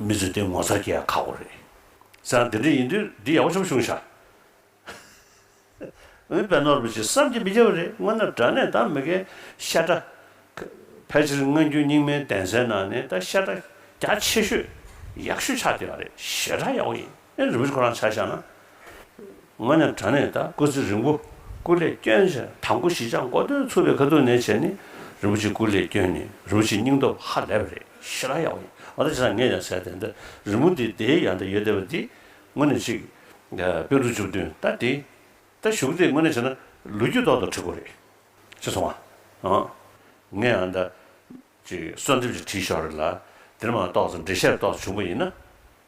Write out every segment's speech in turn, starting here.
མི་ཚོས་དེ་ངོ་ཚར་གྱི་ཡ་ཁག་པོ་རེད། སེམས་ལ་དེ་འདྲ་ཡིན་དུས་འདི་ཡག་པོ་ཆུབ་བྱུང་ཤག། འོན་པའི་ནོར་བུ་ཅིག་བསམ་གྱི་མི་བརྒྱ་བ་རེད་སྔོན་ན་དགྲ་གནས་དང་མི་ཁའི་ཤ་ཁྲ། ཕལ་ཆེར་སྔ་འགྱུར་རྙིང་མའི་གདན་སའི་ནང་ནས་ད་ཤ་ཁྲ་རྒྱ་ཆེ་ཤོས་ཡག་ཤོས་ཆགས་བསྡད་པ་རེད་ཞེ་དྲག་ཡག་པོ་ཡིན། ཨེ་རིན་པོ་ཆེ་ཁོ་རང་ཆ་བཞག་ན། ངོས་ནས་དྲ་གནས་དང་སྐུ་ཚེ་རིང་པོ་སྐུ་ལས་སྐྱོན་ཆེ་དང་སྐུ་ཞི་ཆགས་འགོ་སྟོན་ཚུགས་པའི་ཁ་ཐུག་ནས་བྱས་ནི་རིན་པོ་ཆེ་སྐུ་ལས་སྐྱོན་ནི་རིན་པོ་ཆེ་སྙིང་སྟོབས་ཧ་ལས་པ་རེད་ཞེ་རང་ཡག་པོ་ཡིན་མ་གཏོགས་ཇི་ལྟར་ངས་ཡང་ཟེར་དེ་འདི་རིན་པོ་འདི་དེའི་ཡང་འདི་ཡོད་བསྡད་པ་འདི་ངོས་ནས་ཅིག་དཔེ་ཀླུ་བཅུ་བདུན་ད་འདི་ད་བཞུགས་དེ་ངོས་ནས་བྱས་ན་ལོ་རྒྱུས་ཐོག་ཏུ་བྲི་དགོས་རེད་ཅེས་གསུང་བ་འང་ངས་ཡང་འདི་ཅིག་གསོལ་འདེབས་ཅིག་བྲིས་ཤོག་རེད་ལ་འདིར་མ་གཏོགས་ཚེ་འབྲེལ་ཤེར་རྟོགས་སུ་བྱུང་པ་ཡིན་ན།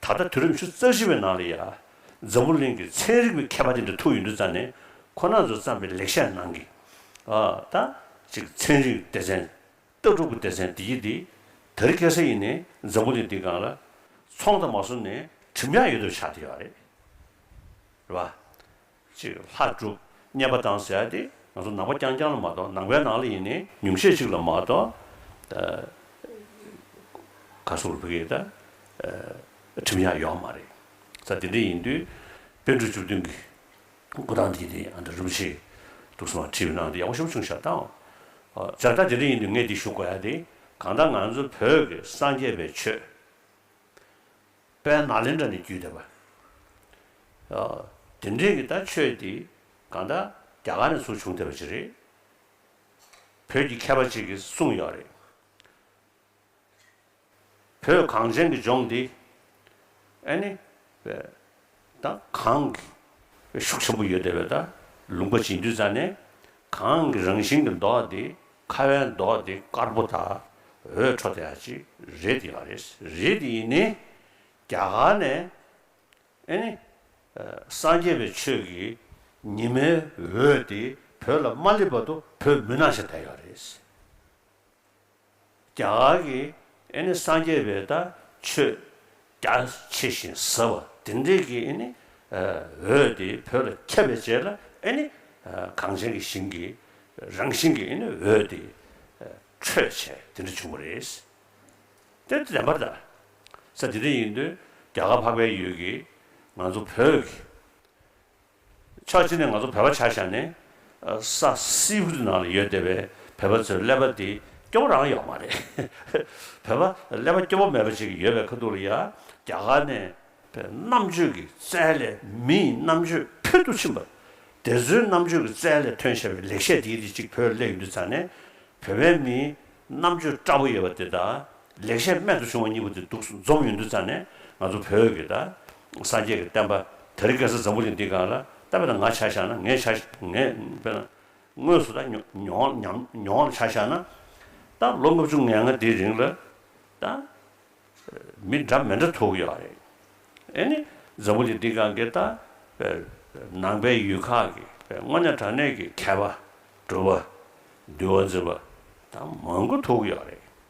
ད་ལྟ་དུས་རབས་བཅུ་རྩ་བཞི་པའི་ནང་ལ་ཡང་འཛམ་བུ་གླིང་གི་ཚན་རིག་པའི་མཁས་པ་དེ་འདྲ་ཐུག་ཡོད་འདུག་རྩ་ནས་ཁོ་ན་ཚོ་བརྩམས་པའི་ལེགས་བཤད་ནང་གི་ད་ཅིག་ཚན་རིག་སྡེ་ཚན། ལྟ་གྲུབ་ཀྱི་སྡེ་ཚན་འདི་གཉིས་འདི་ད་རི་སྐྱེས་ས་ཡིན་ནས་འཛམ་བུ་གླིང་འདི་སྒང་ལ་ཚོང་དང་མ་བཟུང་ནས་གྲིམ་ཡག་ཡོད་དོ་ཆགས་དེ་ཡོད་རེད་བ། ཅིག་ལྷ་བསྒྲུབ་རྙེད་པ་དང་ཟེར་ཏེ་ང་ཚོ་ནང་པ་རྐྱང་རྐྱང་ལ་མ་གཏོགས་ནང་པའི་ནང་ལ་ཡིན་ནའི་ཉུང་ཤས་ཅིག་ལ་མ་གཏོགས་ག་སུ་ལ་བོད་སྐད་ཁྲིམས་ཡག་ཡོག་མ་རེད་ས་དེ་འདྲ་ཡིན་དུས་དཔལ་འབྲུག་བཅུ་བདུན་གྱི་སྐུ་ཐང་དེ་དེ་འདྲ་རིན་པོ་ཆེ་འདུག་སེམས་པ་ཁྲིད་གནང་དེ་ཡག་པོ་ཤོམ་བྱུང་ཞབས་ཐང་བཅར་བདག་དེ་འདྲ་ཡིན་དུས་ངས་འདི་ཞུ་དགོས་ཡ་དེ་གང་ལྟར་ང་ཚོ་བོད་ཀྱི་སངས་རྒྱས་པའི་ཆོས། པའི་ནགས་ལེན་འདྲ་ནི་བརྒྱུད་དེ་པའོ། དེ་འདྲས་ཀྱི་ད་ཆོས་འདི་གང་ད་རྒྱ་གར་ནས་ཚུགས་བྱུང་བསྡད་པ་ཅིག་རེད། བོད་ཀྱི་མཁས་པ་ཅིག་གིས་གསུངས་ཡོད་རེད། བོད་གངས་ཅན་གྱི་ལྗོངས་འདི་ཨ་ནི། དང་གང་གི་ཤུགས་ཆེན་པོ་ཡོད་བསྡད་པས་ད་ལུང་པ་བྱིན་འདུས་རྩ་ནས་གང་གི་རང་བཞིན་གྱི་མདོག་དེ་ཁ་བའི་མདོག་དེ་དཀར་པོ་དག་འོད་འཕྲོ་དེ་ཡང་ཅི་རེད་དེ་ཡང་རེད་རེད་དེ་ཡིན་ནི་རྒྱ་གར་ནས་ཨེ་ནི་སངས་རྒྱས་པའི་ཆོས་ཀྱི་ཉི་མའི་འོད་དེ་བོད་ལ་མ་སླེབས་བར་དུ་བོད་མི་ནང་བཞིན་བསྡད་ཡོད་རེད། རྒྱ་གར་གྱི་ཨེ་ནི་སངས་རྒྱས་པའི་ད་ཆོས་རྒྱ་ཆེ་ཞིང་ཟབ་པ་དེ་འདྲེས་ཀྱི་ཨེ་ནི་འོད་དེ་བོད་ལ་ཁྱབ་པའི་རྗེས་ལ་ཨེ་ནི་གངས་ཅན་གྱི་ཞིང་གི་རང་བཞིན་གྱི་ཨེ་ནི་འོད་དེ་འཕྲོས་བྱས་དེ་འདྲ་བྱུང་བ་རེད། དེ་ལྟ་བདེན་པར་ད་ས་དེ་འདྲ་ཡིན་དུས་རྒྱ་གར་འཕགས་པའི་ཡུལ་གྱི་ང་ཚོ་བོད་ཀྱི་ཕྱོགས་གཅིག་ནས་ང་ཚོ་བོད་པ་ཆ་བཞག་ནས་ས་སེའུ་ཧུད་ནང་ལ་ཡོད་བསྡད་པའི་བོད་པ་ཚོའི་ཀླད་པ་འདི་སྐྱོ་བོ་རང་ཡོད་མ་རེད། བོད་པ་ཀླད་པ་སྐྱོ་བོ་མེད་པ་ཅིག་ཡོད་པའི་ཁ་ཐུག་ལ་ཡ་རྒྱ་གར་ནས་བོད་རྣམ་དཔྱོད་ཀྱི་རྩལ་ལས་མི་ཡི་རྣམ་དཔྱོད་ཕུལ་དུ་ཕྱིན་པ། དེ་ཚོའི་རྣམ་དཔྱོད་ཀྱི་རྩལ་ལས་ཐོན་ཤེས་པའི་ལེགས་བཤད་དེའི་རིགས་གཅིག་བོད་ཀླད་ཡུལ་འདི་ཚང་ནས་བོད་པའི་མིའི་རྣམ་དཔྱོད་བཀྲ་བོ་ཡོད་པ་དེ་དག་ལེགས་བཤད་རྨད་དུ་བྱུང་བ་གཉིས་པོ་དེ་འདུག་འཛོམས་ཡོང་དུས་ཙམ་ནས་ང་ཚོ་བོད་ཀྱི་ད་སངས་རྒྱས་ཀྱི་བསྟན་པ་དེ་རིགས་སྐལ་བཟང་འཛམ་བུ་གླིང་འདི་གང་ལ་ལྟ་བས་ན་ང་ཆ་བཞག་ན་ངས་ཆ་ངས་དཔེར་ན་དངོས་སུ་ད་མྱོང་ལ་མྱོང་ལ་ཆ་བཞག་ན་ད་ལོ་ལྔ་བཅུ་ང་ལྔ་འདིའི་རིང་ལ་ད་མི་འདྲ་མི་འདྲ་ཐུག་གི་ཡོད་རེད་ཨེ་ནི་འཛམ་བུ་གླིང་འདི་གང་གི་ད་ནང་པའི་ཡུལ་ཁག་གི་དངོས་གནས་དྲང་གནས་ཀྱི་མཁས་པ་སྒྲུབ་པ་འདུལ་བ་འཛིན་པ་ད་མང་པོ་ཐུག་གི་ཡོད་རེད།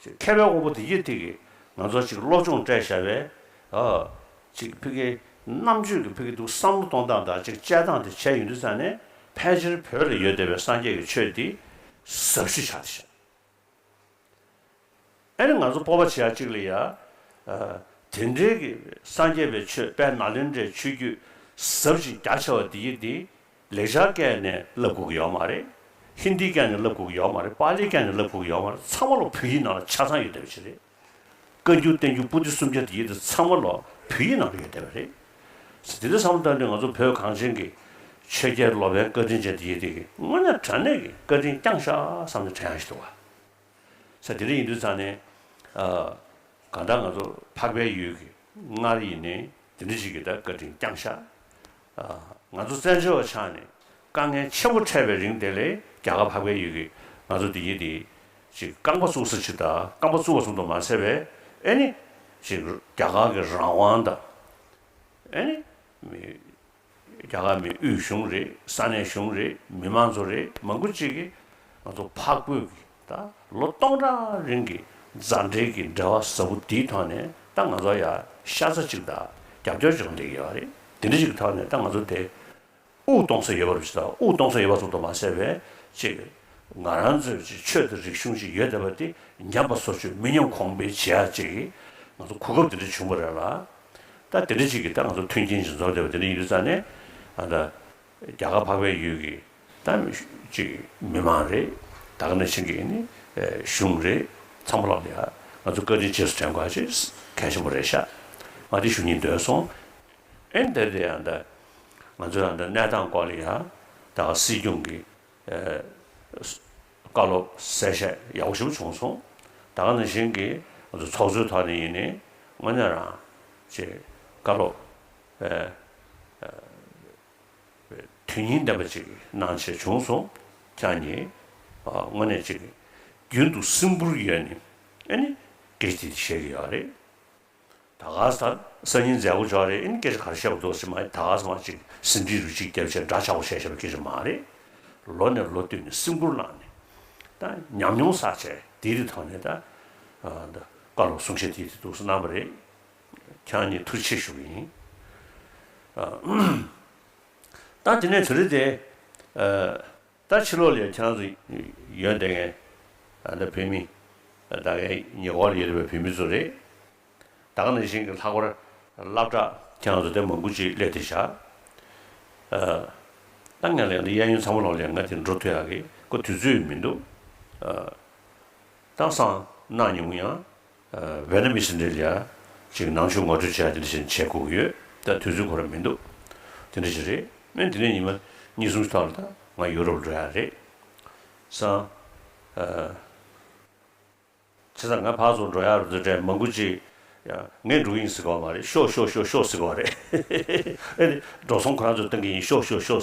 ཅིག་མཁས་པའི་དབང་པོ་དེ་ཡེ་ཐིག་གིས་ང་ཚོར་ཅིག་བློ་སྦྱོང་སྤྲད་བཞག་པས། ཅིག་ཕི་གེ། རྣམ་དཔྱོད་ཀྱི་ཕི་གེ་འདུག་བསམ་བློ་གཏོང་སྟངས་དང་ཅིག་དཔྱད་སྟངས་དེ་བྱས་ཡོང་དུས་ཙམ་ནས་ཕལ་ཆེར་བོད་ལ་ཡོད་བསྡད་པའི་སངས་རྒྱས་ཀྱི་ཆོས་འདི་ཟབ་ཞུ་བྱ་ཐུབ། ཨེ་རེད་ང་ཚོ་སྤོབས་པ་བྱེད་ཡག་ཅིག་ལ་ཡ། དེ་འདྲའི་གི་སངས་རྒྱས་པའི་ཆོས་དཔལ་ནཱ་ལེནྡྲའི་ཆོས་བརྒྱུད་ཟབ་ཅིང་རྒྱ་ཆེ་བ་འདི་ཡེ་འདི་ལེགས་སྦྱར་སྐད་ནས་བསླབ་ཁུག་ཡོད་མ་རེད། ཧིན་དྷིའི་སྐད་ནས་བསླབ་ཁུག་ཡོད་མ་རེད་པཱ་ལིའི་སྐད་ནས་བསླབ་ཁུག་ཡོད་མ་རེད་ཚང་མ་ལོ་བོད་ཡིག་ནང་ལ་ཆ་ཚང་ཡོད་བསྡད་པ་ཞིག་རེད། བཀའ་འགྱུར་བསྟན་འགྱུར་པུ་ཏི་སུམ་བརྒྱ་དེ་ཡིག་དེ་ཚང་མ་ལོ་བོད་ཡིག་ནང་ལ་ཡོད་བསྡད་པ་རེད། དེ་འདྲའི་བསམ་བློ་བཏང་དུས་ང་ཚོ་བོད་གངས་ཅན་གྱི་ཆོས་རྒྱལ་ལོ་པཎ་བཀའ་དྲིན་ཅན་དེ་ཡིག་དེ་དངོས་གནས་དྲ་གནས་ཀྱི་བཀའ་དྲིན་བསྐྱངས་ཤག་བསམ་ནས་དྲན་ཡག་ཞིག་འདུག་བ། ས་དེ་རིང་ཡིན་དུས་ཚང་ནས། གང་ལྟར་ང་ཚོ་འཕགས་པའི་ཡུལ་གྱི་སྔར་ཡིན་ནས་དེ་འདྲ་ཞིག་གི་ད་བཀའ་དྲིན་བསྐྱངས་ཤག། ང་ཚོ་བཙན་བྱོལ་བ་ཆགས་ནས་དཀའ་ངལ་ཆེན་པོ་འཕྲད་པའི་རིང་དེ་ལས་རྒྱ་གར་འཕགས་པའི་ཡུལ་གྱི་ང་ཚོ་འདི་ཡིན་དེ་ཞིག་རྐང་པ་བཙུགས་ས་ཆིག་ད་རྐང་པ་བཙུགས་བ་གསུང་དུ་མ་ཟད་པས་ཨེ་ནི། ཞིག་རྒྱ་གར་གྱི་རང་དབང་ད་ཨེ་ནི། རྒྱ་གར་མི་དབུས་གཞུང་རེད་ས་གནས་གཞུང་རེད་མི་དམངས་ཚོ་རེད་མང་པོ་གཅིག་གིས་ང་ཚོ་ཕག་རྒོད་ཀྱི་ད་ལོ་སྟོང་ཕྲག་རིང་གི་མཛའ་འབྲེལ་གྱི་འབྲེལ་བ་ཟབ་པོ་དེའི་ཐོག་ནས་ད་ང་ཚོ་ཡ་ཤ་ཚ་གཅིག་ད་རྒྱབ་སྐྱོར་བྱེད་དགོས་འདི་ཡོད་རེད་དེ་འདྲ་ཞིག་གི་ཐོག་ནས་ད་ང་ཚོ་དེ་དབུགས་གཏོང་ས་ཡོད་པ་རེད་ཅེས་ད་དབུགས་གཏོང་ས་ཡོད་པ་ཚོ་དང་མ་ཟད་པའི་ཅིག་ང་རང་ཚོས་ཅིག་ཆོས་དང་རིག་གཞུང་ཅིག་ཡོད་བསྡད་པ་དེ་ཉམས་པ་སོར་ཆུད་མི་ཉམས་གོང་འཕེལ་བྱེད་ཡག་ཅིག་གི་ང་ཚོ་གོ་སྐབས་དེ་འདྲ་བྱུང་བ་རེད་ལ་ད་དེ་འདྲ་ཅིག་གིས་ད་ང་ཚོ་མཐུན་རྐྱེན་ཅིག་འཛོམས་བསྡད་པ་དེ་འདྲ་ཡིན་རྩ་ནས་ཨ་མདའ། རྒྱ་གར་འཕགས་པའི་ཡུལ་གྱི་ད་ཅིག་མི་མང་རེད་ད་ག་ནས་ཕྱིན་གྱི་ནི་གཞུང་རེད་ཚང་མ་ལབ་ལ་ཡ་ང་ཚོ་བཀའ་དྲིན་རྗེས་སུ་དྲན་དགོས་ཨ་ཅེ་གལ་ཆེན་པོ་རེད་ཤག་ང་དེ་ཞུ་སྙིང་འདོད་སོང་ཨེ་འདར་དེ་ཨ་མདའ། ང་ཚོའི་ཨ་མདའ་གནས་སྟངས་སྐོར་ལ་ཡ་ད་ག་སྲིད་སྐྱོང་གི། བཀའ་སློབ་གསལ་བཤད་ཡག་པོ་ཞིབ་བྱུང་སོང། ད་ག་ནང་བཞིན་གྱི་ང་ཚོ་ཚོགས་གཙོའི་ཐོག་ནས་ཡིན་ནི་དངོས་གནས་རང་ཅེས་བཀའ་སློབ་དོན་སྙིང་ལྡན་པ་ཅིག་གནང་བྱས་བྱུང་སོང་ཁྱང་ཉིད་དངོས་གནས་ཅིག་རྒྱུན་དུ་སིམ་པོར་ཡོད་ནི་ཨ་ནི་དགེ་ཅིག་བཞེས་ཀྱི་ཡོད་རེད། ད་ག་ཟེ། སང་ཉིན་མཛད་སྒོ་འཇོག་རེད་ཨིན་སྐད་ཆ་ག་རེ་བཤད་དགོས་འདུག་ཟེར་མ་ད་ག་ཟེ་མ་གཅིག་ཟིན་བྲིས་རུ་གཅིག་རྒྱབ་ཆེ་འདྲ་ཆག་པོ་བཤད་ཤེས་པ་སྐད་ཆ་མ་རེད། ལོ་ནས་ལོ་བསྟུད་ནས་སེམས་ཁུར་བླངས་ནས་ད་ཉམས་མྱོང་བསགས་བྱས་དེའི་རི་ཐོག་ནས་ད་ད་བཀའ་སློབ་གསུང་བཤད་དེ་དེ་འདུག་གནང་བ་རེད། ཁྱེད་རང་གཉིས་ཐུགས་རྗེ་ཆེ་ཞུ་གི་ཡིན། ད་དེ་ནས་དེ་རི་དེ། ད་ཕྱི་ལོག་ལས་ཁྱང་ཚུ། ཡོན་ཏན་ངན། ཨ་མདའ་བོད་མི། ད་གའི་ཉེ་འཁོར་ཡོད་པའི་བོད་མི་ཚོ་རེད། ད་ག་ནས་ཤིང་གི་ལྷག་པར། བླ་བྲག་ཁྱང་ཚུ་དེ་མང་པོ་ཅིག་ལས་དེ་བཞག། ད་ངས་ལས་འདི་གཡས་གཡོན་ཚང་མ་ལོག་ལས་ང་དེ་འགྲོ་ཐུ་ཡག་གི་ཀོ་དུས་ཚོད་མི་འདུག། ད་སང་གནང་མྱོང་ཡང། བྷེ་ནམ་ཨི་སི་འབྲེལ་ཡག་ཅིག་ནང་ཆུ་ངོ་སྤྲོད་བྱས་དེ་འདྲ་བྱས་བྱས་ཁུག་ཡོད་ད་དུས་ཚོད་གོ་ར་མི་འདུག་དེ་འདྲ་ཞིག་རེད་སྨན་དེ་ནས་ཉི་མ་གཉིས་གསུམ་ཞིག་ཐོག་ལ་ད་ང་ཡུ་རོབ་འགྲོ་ཡག་རེད་སང་ཚེ་སང་ང་ཕག་ཚོགས་འགྲོ་ཡག་རེད་འདུག་དྲན་མ་འགུ་ཅིག་ངས་འགྲོ་གི་ཡིན་ཟེར་གི་བ་མ་རེད་ཤོག་ཤོག་ཤོག་ཤོག་ཟེར་གི་བ་རེད་ཨེ་ལེ་འགྲོ་སོང་ཁོ་རང་ཚོས་གཏོང་གི་ཡིན་ཤོག་ཤོག་ཤོག་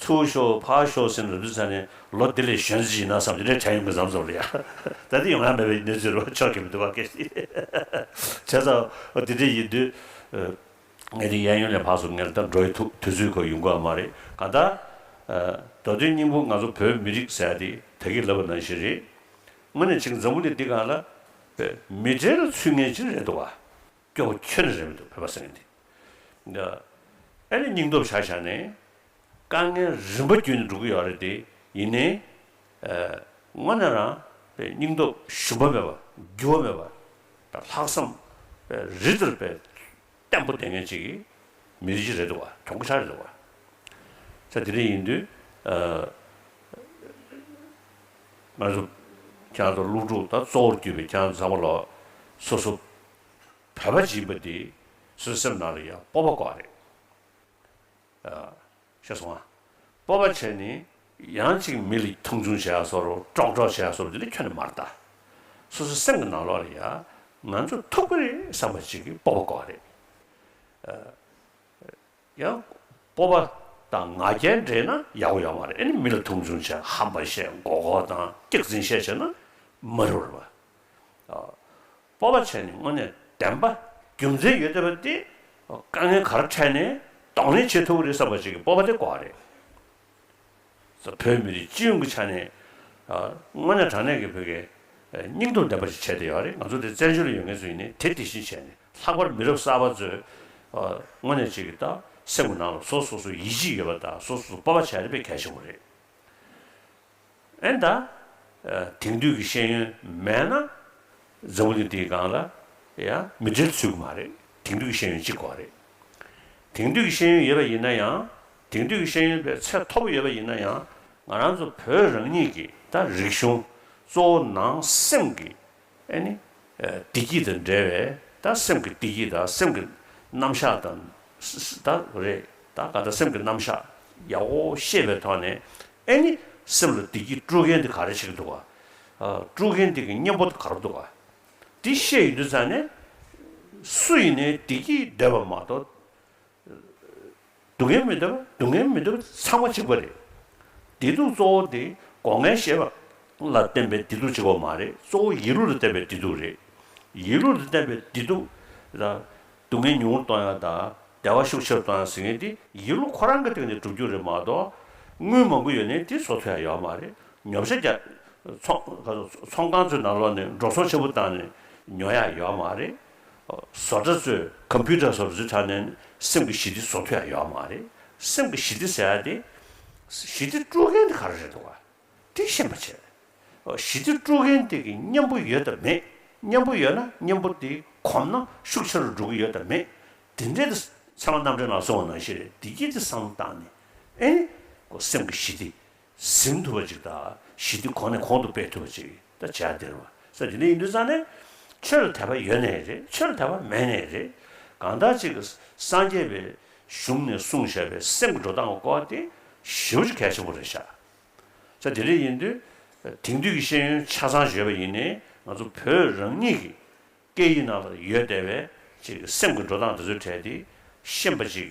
ཚུར་ཤོག་ཕར་ཤོག་ཟེར་ནས་རིམ་བྱོན་ཚང་ནས་ལོ་འདི་ལས་གཞོན་ཅིག་ཡིན་ན་བསམ་གྱི་རེད་བྱ་ཡོང་གི་བཟང་ཟོ་རེད་ཡ། ད་དེ་ཡོང་ཡ་མེད་པའི་གནས་ཚུལ་རོ་ཆོག་གི་མི་འདུག་བ་ཀེ་ཧྲི། བྱས་ཙང་འོ་དེ་འདྲས་ཡིན་དུས། ངས་འདི་གཡས་གཡོན་ལས་ཕག་སོ་ངེར་ལྟར་འགྲོ་ཡི་ཐུག་དུས་ཚོད་ཁོ་ཡོང་གི་བ་མ་རེད་གང་ལྟར། མདོ་དོན་སྙིང་པོ་ང་ཚོ་བོད་མི་རིགས་ཟེར་ཡ་དེ་ད་གིས་ལབ་པ་ནང་བཞིན་རེད། དངོས་ནས་ཆིག་འཛམ་བུ་ནས་འདི་གང་ལ། མི་གྲལ་ལ་ཚུད་ངེས་ཅི་རེད་འདུག་བ། སྐྱོ་བོ་ཁྱོད་ནི་རེ་མི་འདུག་བོད་པ་སེམས་ནི་འདི། ཨེ་ནི་སྙིང་སྟོབས་བྱ་བཞག་ནི། དཀའ་ངལ་རིམ་པ་བརྒྱུད་ནས་འགྲོ་གི་ཡོད་རེད་དེ་ཡིན་ནི། དངོས་ནས་རང་སྙིང་སྟོབས་ཞུམ་པ་མེད་པ་རྒྱུ་བ་མེད་པ་དང་ལྷག་བསམ་རི་ལྟར་བརྟན་པོ་ལྡན་མཁན་གཅིག་གི་མི་རིགས་ཤིག་རེད་འདུག་བ་གྱོང་གུ་ཆག་རེད་འདུག་བ། ཚེ་འདི་འདྲ་ཡིན་དུས་ང་ཚོ་ཀྱང་ལུག་ཕྲུག་དང་གཙོ་བོར་གྱུར་པའི་ཀྱང་མཛངས་པ་ལོ་སོ་སོ་བོད་པ་སྦྱིན་པ་འདི་སུ་སེམས་ནང་ལ་ཡང་སྤོབས་པ་ཀོ་རེད། ཤེས་སོང་ང། སྤོབས་པ་བྱས་ནས་ཡང་ཅིག་མི་ལ་མཐོང་ཆུང་བྱས་ཡ་སོར་ཀྲོག་ཀྲོག་བྱས་ཡ་སོར་འདི་ལ་ཁྱོད་ནི་མ་རྟ། སོ་སོ་སེམས་ཀྱི་ནང་ལོག་ལ་ཡང་ང་ཚོ་ཐུག་པ་རེད་བསམ་པ་ཅིག་གི་སྤོབས་པ་ཀོ་རེད། ཡང་སྤོབས་པ་དང་ང་རྒྱལ་འདྲེས་ན་ཡག་པོ་ཡོག་མ་རེད་ཨེ་ནི་མི་ལ་མཐོང་ཆུང་བྱས་ཧམ་པ་བཤད་མགོ་ཁོག་དང་སྐྱག་རྫིན་བཤད་བྱས་ན་མ་རུ་ར་བ། སྤོབས་པ་བྱས་ནས་དངོས་གནས་བདེན་པ་རྒྱུ་མཚན་ཡོད་བསྡད་པ་དེ་དཀའ་ངལ་ག་རེ་འཕྲད་ནས་གདོང་ལེན་བྱེད་ཐུབ་ཀྱི་རེད་བསམ་པ་ཞིག་གི་སྤོབས་པ་དེ་གོ་བ་རེད། བོད་མི་རིགས་སྤྱི་ཡོངས་ཀྱི་ཆ་ནས་དངོས་གནས་དྲང་གནས་ཀྱི་བོད་དགེ་སྙིང་སྟོབས་ལྡན་པ་ཞིག་བྱས་བསྡད་ཡོད་བ་རེད་ང་ཚོ་དེ་བཙན་བྱོལ་ལ་ཡོད་མཁན་ཚོ་ཡིན་ནས་དེ་དེ་བཞིན་བྱས་ནས་ལྷག་པར་མི་རབས་གསར་པ་ཚོས་དངོས་གནས་གཅིག་གི་ད་སེམས་ཀྱི་ནང་ལ་སོ་སོ་སོ་ཡིད་ཆེས་ཡོད་པ་དང་སོ་སོ་སོ་སྤོབས་པ་བྱས་ཡོད་པ་གལ་ཆེན་པོ་རེད། ཨེ་ད། དེང་དུས་ཀྱི་ཤེས་ཡོན་མེད་ན། འཛམ་བུ་གླིང་འདིའི་སྒང་ལ། ཡ། མི་འབྲེལ་ཚུལ་གྱི་མ་རེད། དེང་དུས་ཀྱི་ཤེས་ཡོན་གཅིག་གོ་རེད། དེང་དུས་ཀྱི་ཤེས་ཡོན་ཡོད་པ་ཡིན་ན་ཡང། དེང་དུས་ཀྱི་ཤེས་ཡོན་པའི་ཚད་མཐོ་པོ་ཡོད་པ་ཡིན་ན་ཡང། ང་རང་ཚོ་བོད་རང་ཉིད་ཀྱི་ད་རིག་གཞུང། གཙོ་བོ་ནང་སེམས་ཀྱི་ཨེ་ནི། བདེ་སྐྱིད་དང་འབྲེལ་བའི་ད་སེམས་ཀྱི་བདེ་སྐྱིད་ད་སེམས་ཀྱི་རྣམ་གཞག་ད་ད་རེད་ད་ག་ད་སེམས་ཀྱི་རྣམ་གཞག་ཡག་པོ་ཤེས་པའི་ཐོག་ནས་ཨེ་ནི། སེམས་ལ་བདེ་སྐྱིད་སྤྲོད་མཁན་དེ་ག་རེ་བྱེད་ཀྱི་འདུག་ག། སྤྲོད་མཁན་དེ་གི་གཉེན་པོ་དེ་ག་རེ་འདུག་ག། དེ་ཤེས་ཡོད་དུས་ཙང་ནས། སུ་ཡིན་ནའི་བདེ་སྐྱིད་འདོད་པ་མ་གཏོགས། སྡུག་བསྔལ་མི་འདོད་པ་སྡུག་བསྔལ་མི་འདོད་པ་ཚང་མ་འཇིག་པ་རེད། བདེ་སྡུག་གཙོ་བོ་དེ་སྒོ་ལྔའི་ཤེས་པ་ལ་བརྟེན་པའི་བདེ་སྡུག་ཅིག་པ་མ་རེད་གཙོ་བོ་ཡིད་ལུས་ལ་བརྟེན་པའི་བདེ་སྡུག་རེད། ཡིད་ལུས་ལ་བརྟེན་པའི་བདེ་སྡུག་ལ། སྡུག་བསྔལ་ཉུང་ངུར་གཏོང་ཡང་དང་བདེ་བ་ཤུགས་ཆེ་རུ་གཏོང་ཡང་ཟེར་མཁན་དེ་ཡིད་ལུས་ཁོ་རང་གི་སྟེང་ནས་གྲུབ་རྒྱུ་རེད་མ་གཏོགས། དངུལ་མང་པོ་ཡོད་ནའི་དེ་བཟོ་ཐུབ་ཡ་ཡོད་མ་རེད་ཉོབ་ཤ་རྒྱག། ཚོང་ཁང་ཚོའི་ནང་ལོག་ནས་འགྲོ་སོང་ཆེན་པོ་བཏང་ནས་ཉོ་ཡ་ཡོད་མ་རེད། བཟོ་གྲྭ་གཙོས་གམ་བྷིའུ་ཏྲ་སོགས་བཟོས་དྲགས་ནས་སེམས་ཀྱི་ཞི་བདེ་བཟོ་ཐུབ་ཡ་ཡོད་མ་རེད། སེམས་ཀྱི་ཞི་བདེ་ཟེར་ཡ་དེ། ཞི་བདེ་དཀྲུག་མཁན་དེ་ག་རེ་རེད་འདུག་དེ་ཤེས་མ་བྱེད། ཞི་བདེ་དཀྲུག་མཁན་དེ་གི་གཉེན་པོ་ཡོད་དམ་མེད་གཉེན་པོ་ཡོད་ན་གཉེན་པོ་དེ་གོམས་ན་ཤུགས་ཆེ་རུ་འགྲོ་གི་ཡོད་དམ་མེད་དེ་འདྲའི་དེ། ཚང་མ་རྣམ་འདྲེན་ལ་སོང་བ་ནང་བཞིན་རེད་བདེ་སྐྱིད་དེ་བསམ་བློ་བཏང་ནས་ཨེ། སེམས་ཀྱི་ཞི་བདེ་ཟིན་ཐུབ་པ་ཅིག་དང་ཞི་བདེ་གོང་ནས་གོང་དུ་སྤེལ་ཐུབ་པ་ཅིག་དང་བྱ་འདིར་བ་ས་འདི་ནས་ཡིན་དུས་ཙང་ནས་ཆོས་ལ་དད་པ་ཡོད་ནས་རེད་ཆོས་ལ་དད་པ་མེད་ནས་རེད་གང་དག་ཅིག་སངས་རྒྱས་པའི་གཞུང་ནས་གསུང་བཞག་པའི་སེམས་ཀྱི་འགྲོ་སྟངས་སྐོར་དེ་ཞིབ་ཅིག་གལ་ཆེན་པོ་རེད་ཤག་ས་འདི་ནས་ཡིན་དུས་དེང་དུས་ཀྱི་ཤེས་ཡོན་ཆ་ཚང་བརྗོད་པ་ཡིན་ནས་ང་ཚོ་བོད་རང་ཉིད་ཀྱི་སྐད་ཡིག་ནང་ལ་ཡོད་བསྡད་པའི་ཅིག་སེམས་ཀྱི་འགྲོ་སྟངས་དེ་ཚོའི་གྲས་དེ་ཤེས་པ་ཅིག་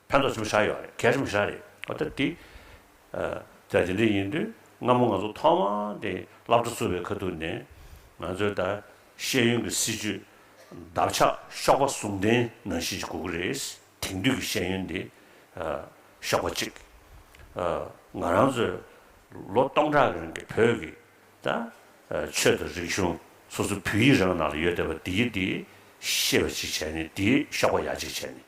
ཕན་ཐོགས་ཆེན་པོ་ཆགས་ཡོད་རེད་གལ་ཆེན་པོ་ཆགས་རེད་ཨོ་ད་དེ་ད་དེ་འདྲ་ཡིན་དུས་སྔ་མོ་ང་ཚོ་ཐོག་མ་དེ་བླ་བྲེ་བསུ་བའི་ཁ་ཐུག་ནས་ང་ཚོའི་ད་ཤེས་ཡོན་གྱི་སྲིད་ཇུས་འདབ་ཆགས་གཤོག་པ་ཟུང་ལྡན་ནང་བཞིན་གྱི་གོ་གི་རེད་དེང་དུས་ཀྱི་ཤེས་ཡོན་དེ་གཤོག་པ་གཅིག་ང་རང་ཚོའི་ལོ་སྟོང་ཕྲག་གི་རིང་གི་བོད་ཀྱི་ད་ཆོས་དང་རིག་གཞུང་སོ་སོའི་བོད་ཡིག་རང་ནང་ལ་ཡོད་བསྡད་པ་དེའི་དེའི་ཤེས་པ་གཅིག་བྱས་ནས་དེའི་གཤོག་པ་ཡག་གཅིག་བྱས་ནས།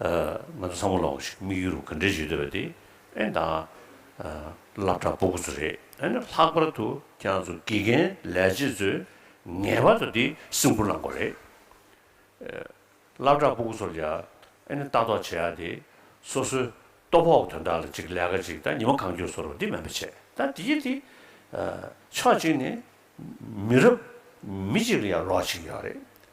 ང་ཚོ་ཚང་མ་ལོངས་ཤིག་དམིགས་ཡུལ་རུ་ག་འདྲས་བྱེད་འདོད་པ་དེ་ཨེ་འདང། བླ་བྲག་སྤོ་དགོས་ཚོད་རེད་ཨེ་ན་ལྷག་པར་དུ་ཁྱང་ཚོ་དགེ་རྒན་ལས་བྱེད་ཚོས་ངེས་པར་དུ་འདི་སེམས་ཁུར་གནང་དགོས་རེད། བླ་བྲག་སྤོ་དགོས་ཚོར་ཡ་ཨེ་ན་ལྟ་རྟོག་བྱེད་ཡ་དེ་སོ་སོའི་ལྟོ་ཕོག་དོན་དག་ལ་ཅིག་ལས་ཀ་ཅིག་ད་ཉི་མ་གང་འགྱོ་ཚོར་འདི་མེད་པ་བྱེད་ད་འདི་བྱེད་དེ། ཕྱོགས་གཅིག་ནས་མི་རབས་མི་གཅིག་ལ་ཡང་ལོག་ཅིག་ཡོད་རེད།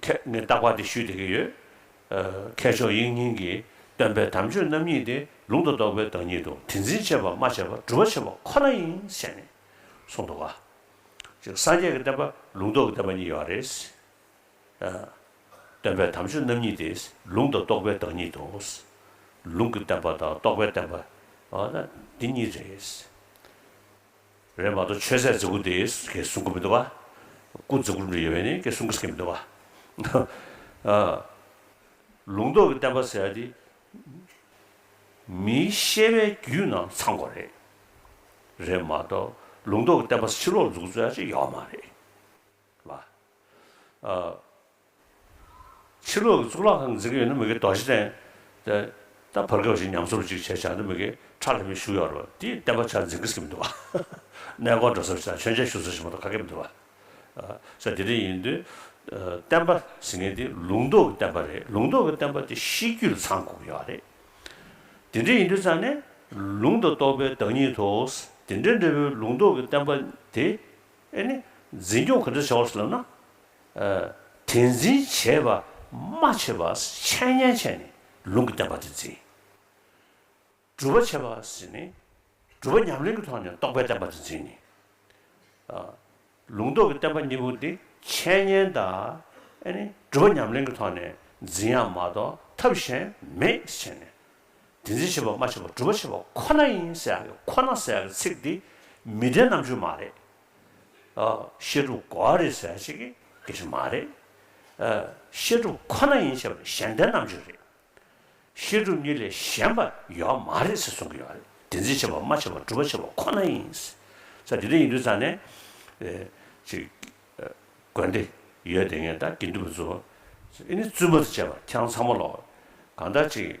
ཐད་ནས་བརྟག་པ་དེ་ཞུས་བསྡད་ཀྱི་ཡོད། མཁས་མཆོག་དབྱིག་གཉེན་གྱིས་སྟོན་པའི་དམ་ཆོས་རྣམ་གཉིས་དེ་ལུང་དང་རྟོགས་པའི་བདག་ཉིད་དུ་དེ་འཛིན་བྱེད་པ་སྨྲ་བྱེད་པ་སྒྲུབ་པ་བྱེད་པ་ཁོ་ན་ཡིན་ཞེས་ནས་གསུངས་འདུག་ག། གཅིག་སངས་རྒྱས་ཀྱི་བསྟན་པ་ལུང་རྟོགས་ཀྱི་བསྟན་པ་གཉིས་ཡོད་རེད། སྟོན་པའི་དམ་ཆོས་རྣམ་གཉིས་དེ་ལུང་དང་རྟོགས་པའི་བདག་ཉིད་དུ། ལུང་གི་བསྟན་པ་དང་རྟོགས་པའི་བསྟན་པ་འདི་གཉིས་རེད། རེད་མ་གཏོགས་ཆོས་ཟད་རྫི་གུ་དེ་གས་གསུང་གི་མི་འདུག་བ། སྐུ་རྫི་གུ་རུ་འདྲི་ཡོད་པས་ནི་གས་གསུང་གི་ཟེར་གི་མི་འདུག་བ། ལུང་རྟོགས་ཀྱི་བསྟན་པ་ཟེར་བ་དེ་མིའི་ཤེས་པའི་རྒྱུད་ནང་ཚང་གོ་རེད། རེད་མ་གཏོགས་ལུང་རྟོགས་ཀྱི་བསྟན་པ་ཕྱི་ལོགས་འཛུགས་རྩོད་ཡག་ཅིག་ཡོད་མ་རེད་བ། ཕྱི་ལོག་གི་གཙུག་ལག་ཁང་འཛིན་གྱི་ཡོད་ན་མི་དགེ་རྡོ་རྗེ་གདན། དེ་ད་བར་སྐབས་ཤིག་ཉམས་གསོར་ཅིག་བྱས་བྱས་འདི་མི་དགེ་ཁྲ་ལྷ་མིའི་བཞུགས་ཡོག་རོ་དེའི་བསྟན་པ་ཆ་འཛིན་གྱི་སྐྱེ་མི་འདུག་གནས་སྐོར་འགྲོ་སར་ཅིག་དང་མཆོད་མཇལ་ཞུ་སར་ཅིག་མ་གཏོགས་ཁ་སྐྱེ་མི་འདུག་ས་དེ་རིང་ཡིན་དུས་བསྟན་པ་ཟེར་མཁན་དེ་ལུང་རྟོགས་ཀྱི་བསྟན་པ་རེད་ལུང་རྟོགས་ཀྱི་བསྟན་པ་དེ་ཤེས་རྒྱུད་ལ་ཚང་དགོས་ཀྱི་ཡོག་རེད་དེ་འདྲ་ཡིན་དུས་ཙང་ནས་ལུང་དང་རྟོགས་པའི་བདག་ཉིད་དུ་དེ་འདྲ་འདྲ་བོའི་ལུང་རྟོགས་ཀྱི་བསྟན་པ་དེ་ཨེ་ནི་འཛིན་སྐྱོང་ག་འདྲ་བྱ་བར་སླེབས་ན། དེ་འཛིན་བྱེད་པ་མ་བྱས་པ་འཆད་ཉན་བྱས་ནས་ལུང་གི་བསྟན་པ་དེ་འཛིན། སྒྲུབ་པ་བྱས་པ་ཟིན་ནས་སྒྲུབ་པ་ཉམས་ལེན་གྱི་ཐོག་ནས་རྟོགས་པའི་བསྟན་པ་དེ་འཛིན། ལུང་རྟོགས་ཀྱི་བསྟན་པ་གཉིས་པོ་འདི་འཆད་ཉན་དང་སྒྲུབ་པ་ཉམས་ལེན་གྱི་ཐོག་ནས་འཛིན་ཡང་མ་གཏོགས་ཐབས་གཞན་མེད་བྱས་ནས། དེ་འཛིན་བྱེད་པ་མ་བྱས་པ་སྒྲུབ་པ་བྱས་པ་ཁོ་ན་ཡིན་ཟེར་ཡག་གི་ཁོ་ན་ཟེར་ཡག་གི་ཚིག་འདི་མི་བདེན་རྣམ་འགྱུར་མ་རེད། ཤེས་སྒྲུབ་གོ་བ་རེད་ཟེར་བ་ཞིག་གིས་མ་རེད། ཤེས་སྒྲུབ་ཁོ་ན་ཡིན་ཞེས་པ་ནི་གཞན་ལྡན་རྣམ་གཅོད་རེད། ཤེས་སྒྲུབ་གཉིས་ལས་གཞན་པ་ཡོད་བ་མ་རེད་ཟེར་གསུང་གི་ཡོད་རེད། བདེན་འཛིན་བྱེད་པ་སྨྲ་བྱེད་པ་སྒྲུབ་པ་བྱེད་པ་ཁོ་ན་ཡིན། ས་དེ་འདྲ་ཡིན་དུས་ཚང་ནས་དགོན་སྡེ་ཡོད་དེ་ངས་ད་དགེ་འདུན་པ་ཚོ་ཨེ་ནི་བཙུན་མ་དང་བཅས་པ་ཁྱེད་རང་ཚང་མ་ལོག་གང་ལྟར་ཅིག།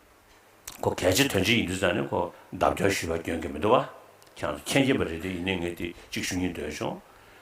ཁོ་གལ་ཆེ་དོན་ཆེ་ཡིན་དུས་ཙམ་ནས་ཁོ་བདག་སྐྱོན་ཞུ་བ་སྐྱོན་གྱི་མི་འདུག་བ། ཁྱེད་རང་ཚོ་མཁྱེན་གྱི་པ་རེད་དེ་ཡིན་ནའི་ངས་དེ་གཅིག་ཞུ་སྙིང་འདོད་བྱུང།